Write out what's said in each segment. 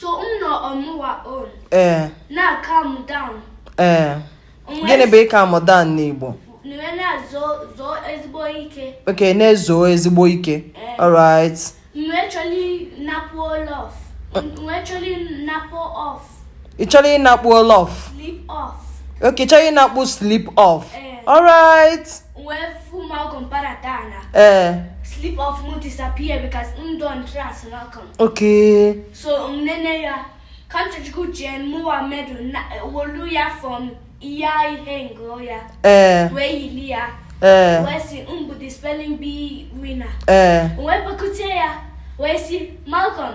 so m nọ ọmụwa on ee na-calm down ee gịnị bụ ị calm down n'igbo okay na-ezu ezigbo ike eh. alright ị chọrọ ịnakpu olof okay chọrọ ịnakpu sleep off eh. alright Eh. Sleep off mụ disappear because m don't trust Malcolm. Okay. So nene ya kanchukwu jen mụwa medal welu ya from iya ihe ngo ya. Eh. Wee yili ya. Eh. Wee sị m bụ the spelling bee winner. Eh. Wee bekutie ya. Wee sị Malcolm.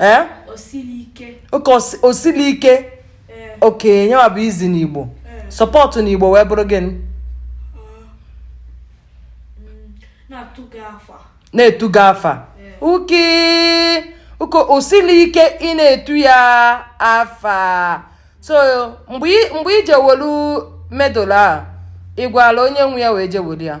ee oke osili ike okay nyewa bụ izi n'igbo sụpụta n'igbo wee bụrụ gịnị na-etu gị afa uke uko osili ike ị na-etu ya afa so mgbe i ji welu medal a ị gwara onye nwe ya wee je were ya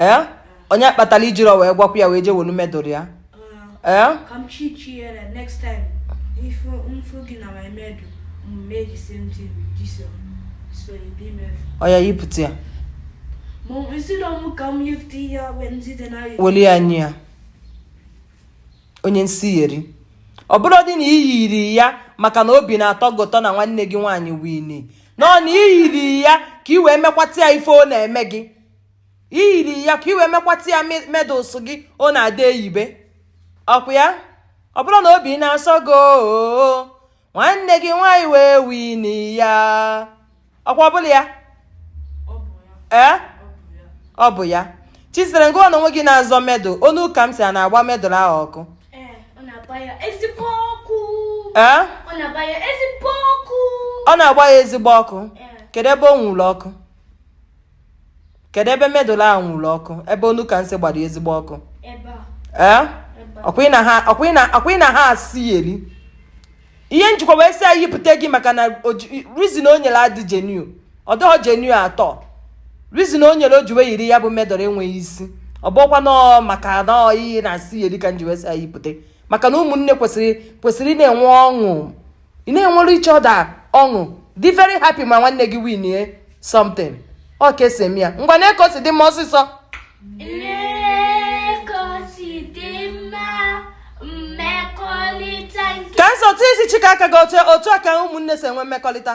ee onye kpatara i jiri wee gwakwa ya wee jee welu medal ya ee oya yipụta ya weli ya nye ya onye nsi yeri ọ bụrụ dị na ị yiri ya maka na obi na-atọ gị ụtọ na nwanne gị nwaanyị wini no na ị yiri ya ka ị wee mekwata ya ife ọ na-eme gị i yiri ya ka i wee mekwata ya medals gị ọ na-adị eyibe ọkwa ya ọ bụrụ na obi na-asọ gị nwanne gị nwaanyị wee wini ya ọkwa ọbụla ya ee ọ bụ ya chisere ngụ ọnụ onwe gị na-azọ medal ọ nụ ka m sị a na-agba medal ahụ ọkụ ọ na-agba ya ezigbo ọkụ kedu ebe ọ nwụrụ ọkụ kedu ebe medal ahụ nwụrụ ọkụ ebe ọ nụ ka m sị gbara ezigbo ọkụ ee ọkwụị na ha asị eri ihe m jikwa wee sị ya yipụta gị maka na reason o nyere adị genuine ọ dịghị genuine at all reason o nyere o ji wee yiri ya bụ medal enweghị isi ọ bụkwanụ maka nọọ iyi na asị eri ka m ji wee sị ya yipụta maka na ụmụnne kwesịrị kwesịrị na-enwe ọṅụ ịna-enwere each other ọṅụ dị very happy ma nwanne gị winie something ọ ka e si eme ya ngwa nee ka o si dị mma ọsịsọ ka nsọ tụ isi chika aka gị otu aka ụmụnne si enwe mmekọrịta